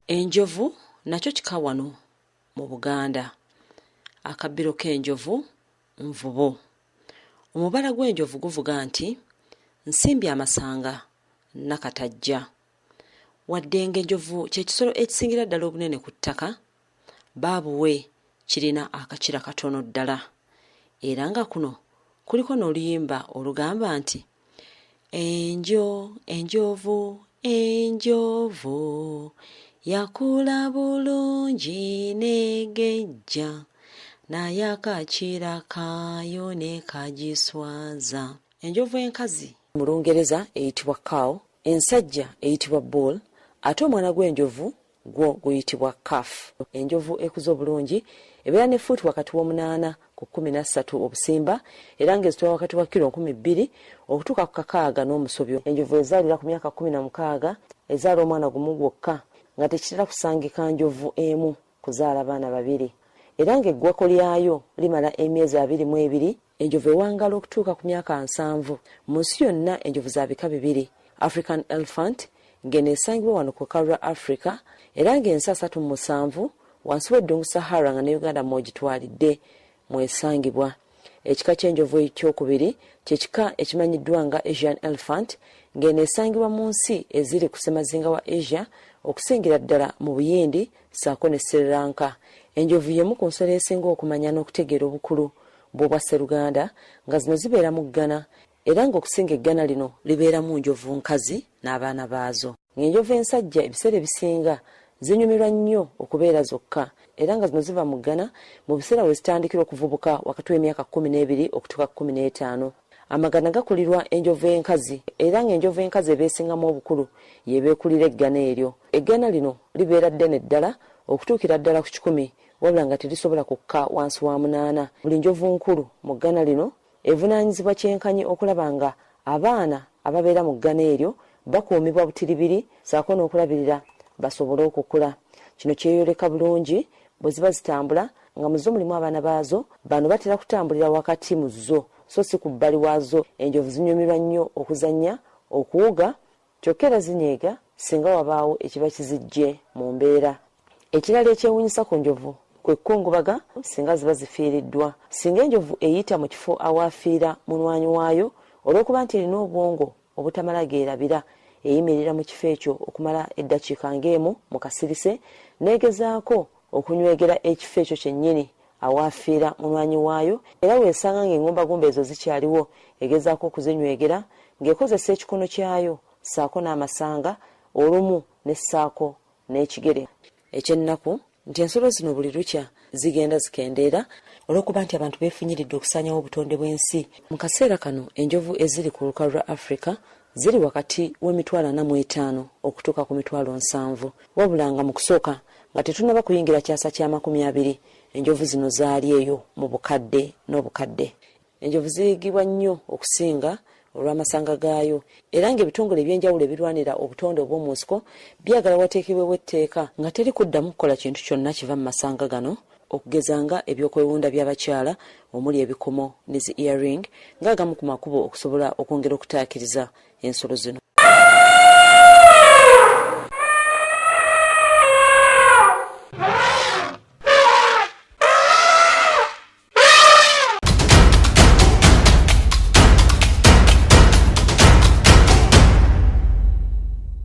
enjovu nakyo kika wano mu buganda akabbiro k'enjovu nvubo omubala gw'enjovu guvuga nti nsimbye amasanga nakatajja wadde ng'enjovu kye kisolo ekisingira ddala obunene ku ttaka baabuwe kirina akakira katono ddala era nga kuno kuliko n'oluyimba olugamba nti enjo enjovu enjovu yakula bulungi negejja naye akakira kaayo ne kagiswaza enjovu enkazi mu lungereza eyitibwa cow ensajja eyitibwa bull ate omwana gw'enjovu Gwo guyitibwa Calf. Enjovu ekuze obulungi ebeera ne fuuti wakati w'omunaana ku kkumi na ssatu obusimba era ng'ezitowa wakati wa kilo nkumi bbiri okutuuka ku kakaaga n'omusobyo. Enjovu ezaalira ku myaka kkumi na mukaaga ezaala omwana gumu gwokka nga tekitera kusangika njovu emu kuzaala baana babiri era ng'eggwako lyayo limala emyezi abiri mu ebiri Enjovu ewangaala okutuuka ku myaka nsanvu. Mu nsi yonna enjovu za bika bibiri, African elephant ng'eno esangibwa wano ku lukalu lwa Africa era ng'ensi asatu mu musanvu wansi w'eddungu Sahara nga ne Uganda mw'ogitwalidde mw'esangibwa. Ekika ky'enjovu ekyokubiri kye kika ekimanyiddwa nga Asian elephant ng'eno esangibwa mu nsi eziri ku ssemazinga wa Asia okusingira ddala mu Buyindi ssaako ne Sri Lanka. Enjovu y'emu ku nsolo esinga okumanya n'okutegeera obukulu bw'Obwasseruganda nga zino zibeera mu ggana era ng'okusinga eggana lino libeeramu njovu nkazi n'abaana baazo. Ng'enjovu ensajja ebiseera ebisinga zinyumirwa nnyo okubeera zokka era nga zino ziva mu ggana mu biseera we zitandikira okuvubuka wakati w'emyaka kkumi n'ebiri okutuuka kkumi n'etaano. Amagana gakulirwa enjovu enkazi era ng'enjovu enkazi eba esingamu obukulu y'eba ekulira eggana eryo. Eggaana lino libeera ddene ddala okutuukira ddala ku kikumi wabula nga terisobola kukka wansi wa munaana. Buli njovu nkulu mu ggana lino evunaanyizibwa kyenkanyi okulaba nga abaana ababeera mu ggana eryo bakuumibwa butiribiri saako n'okulabirira basobole okukula. Kino kyeyoleka bulungi bwe ziba zitambula nga mu zo mulimu abaana baazo. Bano batera kutambulira wakati mu zo so si ku bbali waazo. Enjovu zinyumirwa nnyo okuzannya, okuwuga Kyokka era zinyiiga singa wabaawo ekiba kiziggye mu mbeera. Ekirala ekyewuunyisa ku njovu kwe kukungubaga singa ziba zifiiriddwa. Singa enjovu eyita mu kifo awaafiira mulwanyi waayo, olw'okuba nti erina obwongo obutamala geerabira, eyimirira mu kifo ekyo okumala eddakiika ng'emu mu kasirise n'egezaako okunywegera ekifo ekyo kyennyini awaafiira munywanyi waayo era w'esanga ng'engumbagumba ezo zikyaliwo egezaako okuzinywegera ng'ekozesa ekikono kyayo ssaako n'amasanga olumu ne ssaako n'ekigere. Eky'ennaku nti ensolo zino buli lukya zigenda zikendeera olw'okuba nti abantu beefunyiridde okusaanyawo obutonde bw'ensi. Mu kaseera kano enjovu eziri ku lukalu lwa Africa ziri wakati w'emitwalo ana mu etaano okutuuka ku mitwalo nsanvu wabula nga mu kusooka nga tetunnaba kuyingira kyasa kya makumi abiri enjovu zino zaali eyo mu bukadde n'obukadde. Enjovu ziyigibwa nnyo okusinga olw'amasanga gaayo era ng'ebitongole eby'enjawulo ebirwanira obutonde obw'omu nsiko byagala wateekebwewo etteeka nga teri kuddamu kukola kintu kyonna kiva mu masanga gano okugeza nga eby'okwewunda by'abakyala omuli ebikomo ne zi ear ring nga agamu ku makubo okusobola okwongera okutaakiriza ensolo zino.